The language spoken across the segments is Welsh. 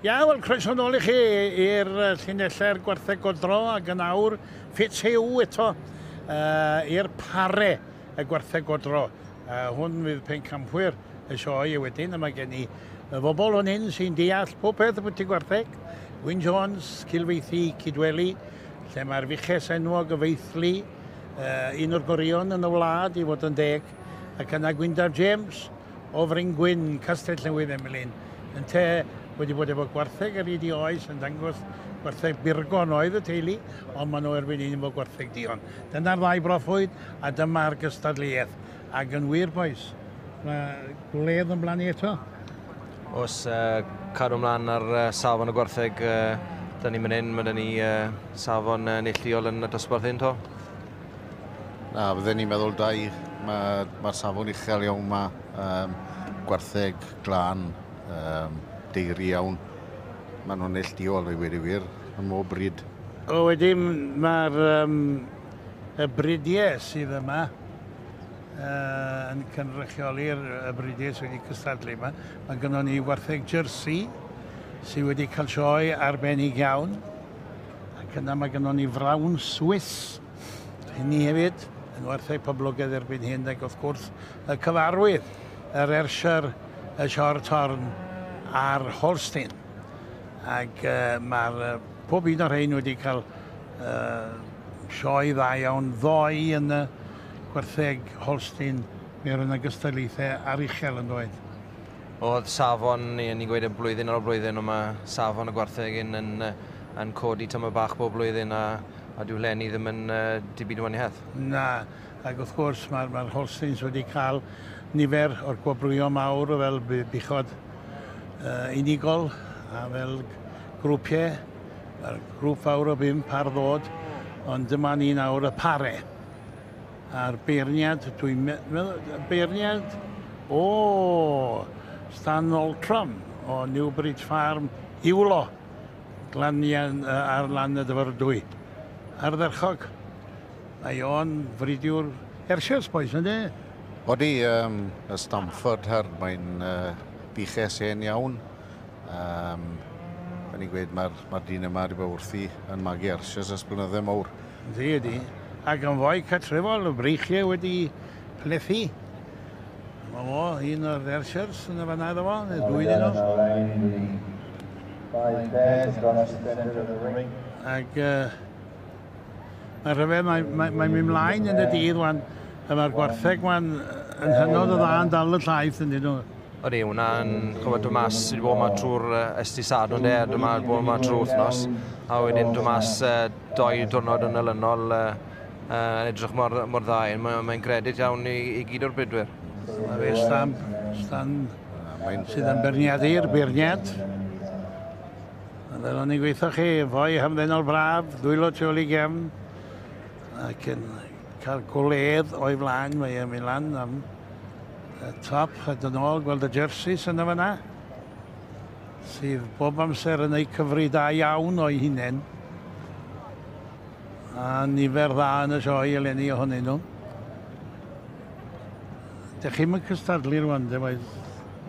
Ia, wel, croeso nôl i chi i'r llinellau'r gwartheg godro ac yn awr ffit hiw eto uh, i'r pare y gwartheg godro. Uh, hwn fydd pen campwyr y sioe a wedyn yma gen i y bobl o'n hyn sy'n deall popeth y bwyty gwartheg. Wyn Jones, Cilfeithi, Cydweli, lle mae'r fuches enwog y feithlu, uh, un o'r gorion yn y wlad i fod yn deg, ac yna Gwyndaf James o Fryn Gwyn, Castell Newydd Emlyn, yn te wedi bod efo gwartheg ar hyd i oes yn dangos gwartheg birgon oedd y teulu, ond maen nhw erbyn un efo gwartheg dion. Dyna'r ddau broffwyd a dyma'r gystadleuaeth. Ac yn wir, bois, mae gwledd yn blannu eto. Os uh, cadw ymlaen ar uh, safon y gwartheg, uh, da ni'n mynd hyn, mae da ni uh, safon uh, neillduol yn y dosbarth hyn to. Na, fydden ni'n meddwl dau, mae'r ma, ma safon uchel iawn yma, um, gwartheg, glan, um, deiri iawn. Maen nhw'n neillduol i wir i wir, yn mhob bryd. O, wedyn mae'r um, Y bridiau sydd yma yn cynrychioli'r y bridiau sydd wedi cystadlu yma. Mae gynnon ni wartheg Jersey sydd wedi cael sioe arbennig iawn. Ac yna mae gynnon ni frawn Swiss hynny hefyd yn wartheg poblogaidd erbyn hyn ac wrth gwrs y cyfarwydd yr Ershire, y Shorthorn a'r Holstein. Ac uh, mae'r Pob un o rhein wedi cael yy sioe dda iawn ddoe yn y gwartheg Holstein. Mi oedd yna gystadlaethau ar uchel yn doedd? Oedd safon, ni yn ni'n gweud e blwyddyn ar ol blwyddyn ond mae safon y gwartheg hyn yn yy yn codi tyma' bach bob blwyddyn a a dyw hlenni ddim yn yy dim byd yn waniaeth. Na, ac wrth gwrs mae'r mae'r Holsteins wedi cael nifer o'r gwobrwyo mawr fel bu- buchod yy unigol a fel grwpiau, a'r grŵp fawr o bump ar ddod, ond dyma ni nawr y pare. A'r beirniad, dwi'n meddwl, y beirniad o Stan Oltram o Newbridge Farm, Iwlo, glanian uh, ar lan y dyfyrdwy. Ardderchog. Mae o'n fridiwr Hershey's Boys, ynddi? Odi, um, y Stamford her, mae'n uh, diches hen iawn. Um, Fe ni'n gweud mae'r mae dyn yma wedi bod wrthi yn magu arsias as blynydde mowr. Ydy, ydy. Ac yn fwy catrefol, y breichiau wedi plethu. Mae mo, un o'r arsiars yn y fanna iddo fo, neu dwy dyn nhw. Ac uh, mae'n rhyfedd, mae'n mae, mae mynd mlaen yn y dydd wan, a mae'r gwartheg wan yn hynod o dda yn dal y llaeth yn dyn nhw. Ydy, hwnna'n gwybod dod mas, sydd wedi bod yma trwy'r ysdi sad ond e, dod yma, bod yma trwy wythnos, a wedyn dod mas uh, doi diwrnod yn ylynol, uh, uh, edrych mor, mor dda, mae'n mae gredit iawn i, i gyd o'r brydwyr. Mae fe stamp, stan, sydd yn berniad i'r beirniad. Fel o'n i'n gweithio chi, fwy hamddenol braf, dwylo tu ôl i gefn, ac yn Cael gwledd o'i flaen, mae e'n mynd lan am y top a dyn ôl, gweld y jerseys yna fanna, sydd bob amser yn eu cyfri da iawn o'i hunain. A nifer dda yn y sioe eleni ohonyn nhw. Dych chi'n mynd cystadlu rwan, de, waith?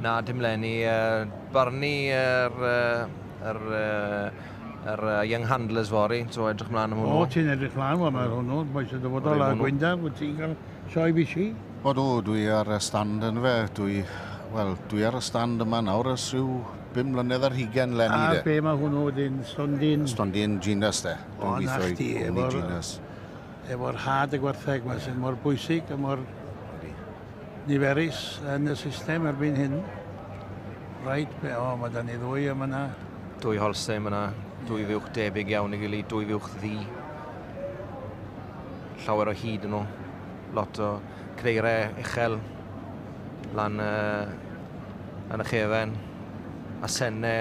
Na, dim lenni. Uh, barnu yr... Uh, yr uh, Yr uh, Young Handlers fory, so edrych mlaen am hwnnw. O, ti'n edrych mlaen fo ar hwnnw, boi sy'n dyfodol a Gwynda, wyt ti'n cael sioe bisi? O dw, dwi ar y stand yn fe, dwi, wel, dwi ar y stand yma nawr ys rhyw bum mlynedd ar hugen lenni de. A be mae hwnnw wedyn, stondin? Stondin Genus de, dwi'n gweithio i gwmni Genus. Efo'r had y gwartheg mae sy'n mor bwysig a mor niferus yn y system erbyn hyn. Rhaid, be, o, mae da ni ddwy am yna. Dwy holse am yna, dwy fuwch debyg iawn i gilydd, dwy fuwch ddi. Llawer o hyd yn nhw, lot o creirau uchel lan uh, yn y chefen, a senne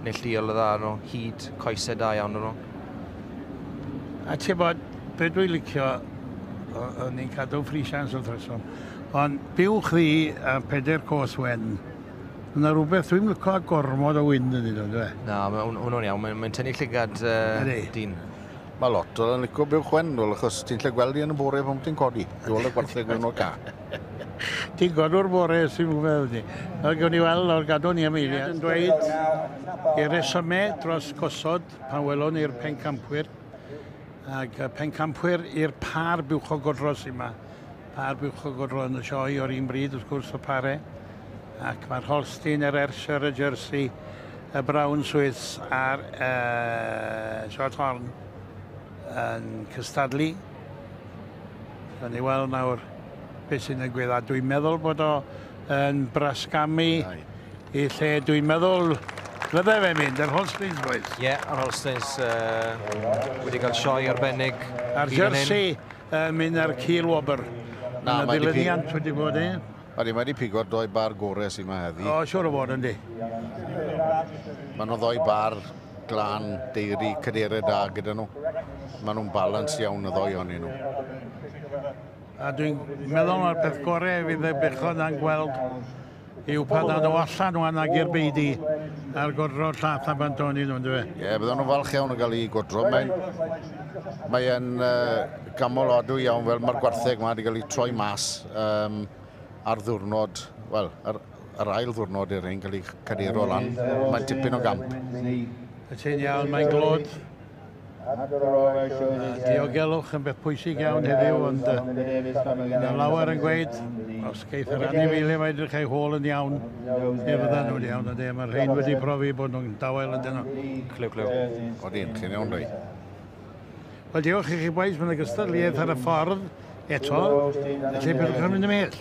neillduol y dda nhw, hyd coesau da iawn nhw. A ti'n bod, be dwi'n licio, o'n ni'n cadw ffrisians wrth reswm, ond byw chdi a peder cos wen, yna rhywbeth dwi'n licio a gormod o wyn yn ddo, dwi? Na, hwnnw'n iawn, mae'n mae tynnu llygad uh, dyn. Mae lot o'n licio byw chwen, wel, achos ti'n lle gweld i yn y bore pan ti'n codi, i ôl y gwartheg mewn o'r ca. Ti'n godwr bore sy'n fwy meddwl ni. Nawr gawn ni weld, nawr gadw ni am eiliad. Yn dweud, i resymau dros gosod Pan welon ni'r pencampwyr, ac y pencampwyr i'r pâr buwchog godro sy'n yma. Pâr buwchog godro yn y sioe o'r un bryd, wrth gwrs, y pare. Ac mae'r Holstein, yr Ayrshire, y Jersey, y Brown Swiss a'r uh, Shorthorn yn cystadlu. Rhaid ni weld nawr beth sy'n y gwedda. Dwi'n meddwl bod o yn brasgamu i lle dwi'n meddwl fyddai fe mynd, yr Holsteins boys. Ie, yeah, yr Holsteins uh, wedi cael sioe arbennig. A'r jersey uh, mynd ar Kiel Wobr. Na, mae wedi pig... wedi bod, e? Ydy, mae wedi pigo'r doi bar gore sy'n ma heddi. O, siwr o fod yn di. Mae nhw ddoi bar glan, deiri, cadere da gyda nhw. Mae nhw'n balans iawn y ddoi o'n nhw. A dwi'n meddwl mae'r peth gorau fydd y bechod na'n gweld Yw pa dda ddo allan o anna gyr beidi ar godro llath a bant o'n nhw, ynddo fe? Ie, bydden nhw'n falch iawn yn cael ei godro. Mae'n mae e'n uh, gamol adw iawn fel mae'r gwartheg yma wedi cael ei troi mas um, ar ddwrnod, wel, ar, ar ail ddwrnod i'r ein cael ei cadero lan. Mae'n tipyn o gamp. Y ti'n iawn, mae'n glod. Diogelwch yn beth pwysig iawn heddiw, ond mae lawer yn gweud, os geith yr anifeiliaid mae edrych eu hôl yn iawn, fe fyddan nhw'n iawn, ond e, mae'r rhain wedi profi bod nhw'n dawel yn dynol. Clyw, clyw. Odi, chi'n iawn, Ray? Wel, diolch i chi bois, mae'n gystadleuaeth ar y ffordd eto, felly pidwch yn mynd ymhell.